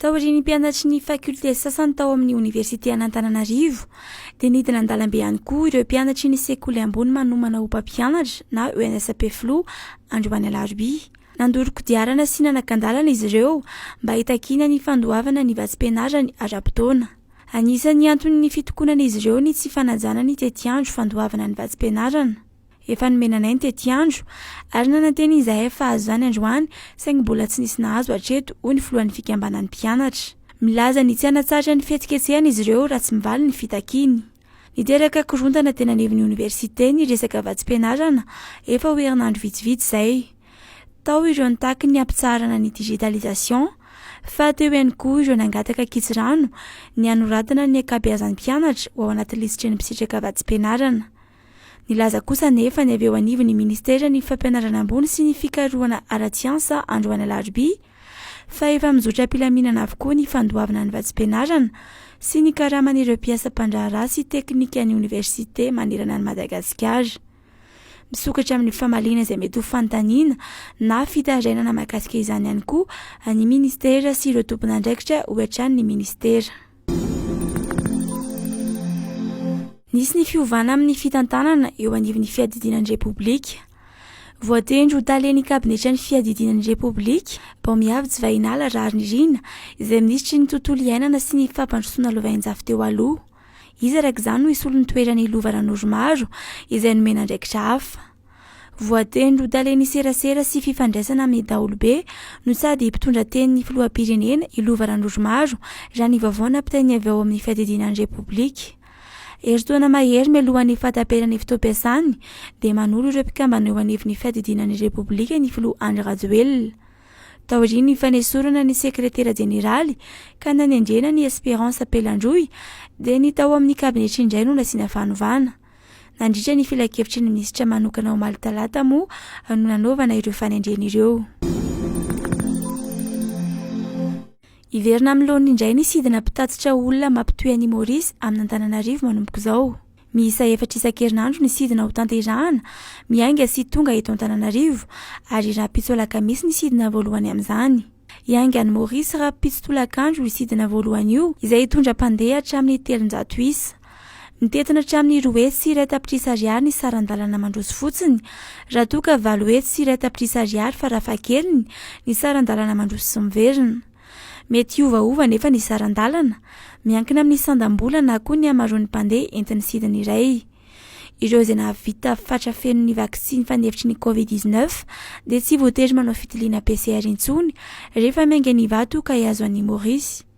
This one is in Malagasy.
Taorian'ny mpianatry ny faculté sasany tao amin'ny oniversite an'Antananarivo, dia nidina an-dalambe ihany koa ireo mpianatry ny sekoly ambony manomana ho mpampianatra na ENSP Filoha androany alarobia. Nandoro kodiarana sy nanakan-dalana izy ireo mba hitakiana ny fandoavana ny vatsim-pianarany ara-potoana. Anisan'ny anton'ny fitokonan'izy ireo ny tsy fanajana ny tetiandro fandoavana ny vatsim-pianarana. Efa nomena anay ny tetiandro, ary nanantena izahay fa hahazo izany androany, saingy mbola tsy nisy nahazo hatreto, hoy ny filohan'ny fikambanan'ny mpianatra. Milaza ny tsy hanatsahatra ny fihetsiketsehana izy ireo raha tsy mivaly ny fitakiany. Niteraka korontana teny anivon'ny oniversite ny resaka vatsim-pianarana efa ho herinandro vitsivitsy izay. Tao ireo nitaky ny hampitsaharana ny digitalisation, fa teo ihany koa ireo nangataka kitsirano, ny hanoratana ny ankabeazan'ny mpianatra ho ao anaty lisitry ny mpisitraka vatsim-pianarana. Nilaza kosa anefa ny avy eo anivon'ny Ministeran'ny Fampianarana ambony sy ny Fikarohana ara-tsiansa androany alarobia, fa efa mizotra am-pilaminana avokoa ny fandoavana ny vatsim-pianarana sy ny karaman'ireo mpiasa mpandraharaha sy teknikan'ny oniversite manerana an'i Madagasikara. Misokatra amin'ny famaliana izay mety ho fanontaniana na fitarainana mahakasika izany ihany koa ny Ministera sy ireo tompon'andraikitra ho hatrany ny Ministera. Nisy ny fiovana amin'ny fitantanana eo anivon'ny fiadidiana ny Repoblika. Voatendry ho talen'ny kabinetra ny fiadidiana ny Repoblika, Baomiavy Jivahinala Raharinirina, izay minisitry ny tontolo iainana sy ny fampandrosoana lovainjafy teo aloha. Izy araka izany no hisolo ny toeran'i Lova Ranoromaro, izay nomena andraikitra hafa. Voatendry ho talen'ny serasera sy fifandraisana amin'ny daholobe no sady mpitondra tenin'ny filoham-pirenena i Lova Randrozomaro raha ny vaovao nampitainy avy ao amin'ny fiadidiana ny Repoblika. Herintaona mahery mialohan'ny fahataperan'ny fotoam-piasany dia manoro ireo mpikambana eo anivon'ny fiadidiana ny Repoblika ny filoha Andry Rajoelina. Taorian'ny fanesorana ny sekretera jeneraly ka nanendrena ny Esperance Pelandroy dia ny tao amin'ny kabinetry indray no nasiana fanovana. Nandritra ny filankevitry ny minisitra manokana omaly talata moa no nanaovana ireo fanendrena ireo. Hiverina amin'ny laoniny indray ny sidina mpitatitra olona mampitohy an'i Maurice amin'Antananarivo manomboka izao. Miisa efatra isan-kerinandro ny sidina ho tanterahana, miainga sy tonga eto Antananarivo, ary rahampitso alakamisy ny sidina voalohany amin'izany. Hiainga any Maurice rahampitso tolakandro io sidina voalohany io, izay hitondra mpandeha hatramin'ny telonjato isa. Mitentina hatramin'ny roa hetsy sy iray tapitrisa ariary ny saran-dalana mandroso fotsiny, raha toa ka valo hetsy sy iray tapitrisa ariary farafahakeliny ny saran-dalana mandroso sy miverina. Mety hiovaova anefa ny saran-dalana, miankina amin'ny sandam-bola na koa ny hamaroan'ny mpandeha entin'ny sidina iray. Ireo izay nahavita fatra feno ny vaksiny fanefitry ny Covid dix-neuf dia tsy voatery manao fitiliana PCR intsony rehefa miainga an'Ivato ka hihazo an'i Maurice.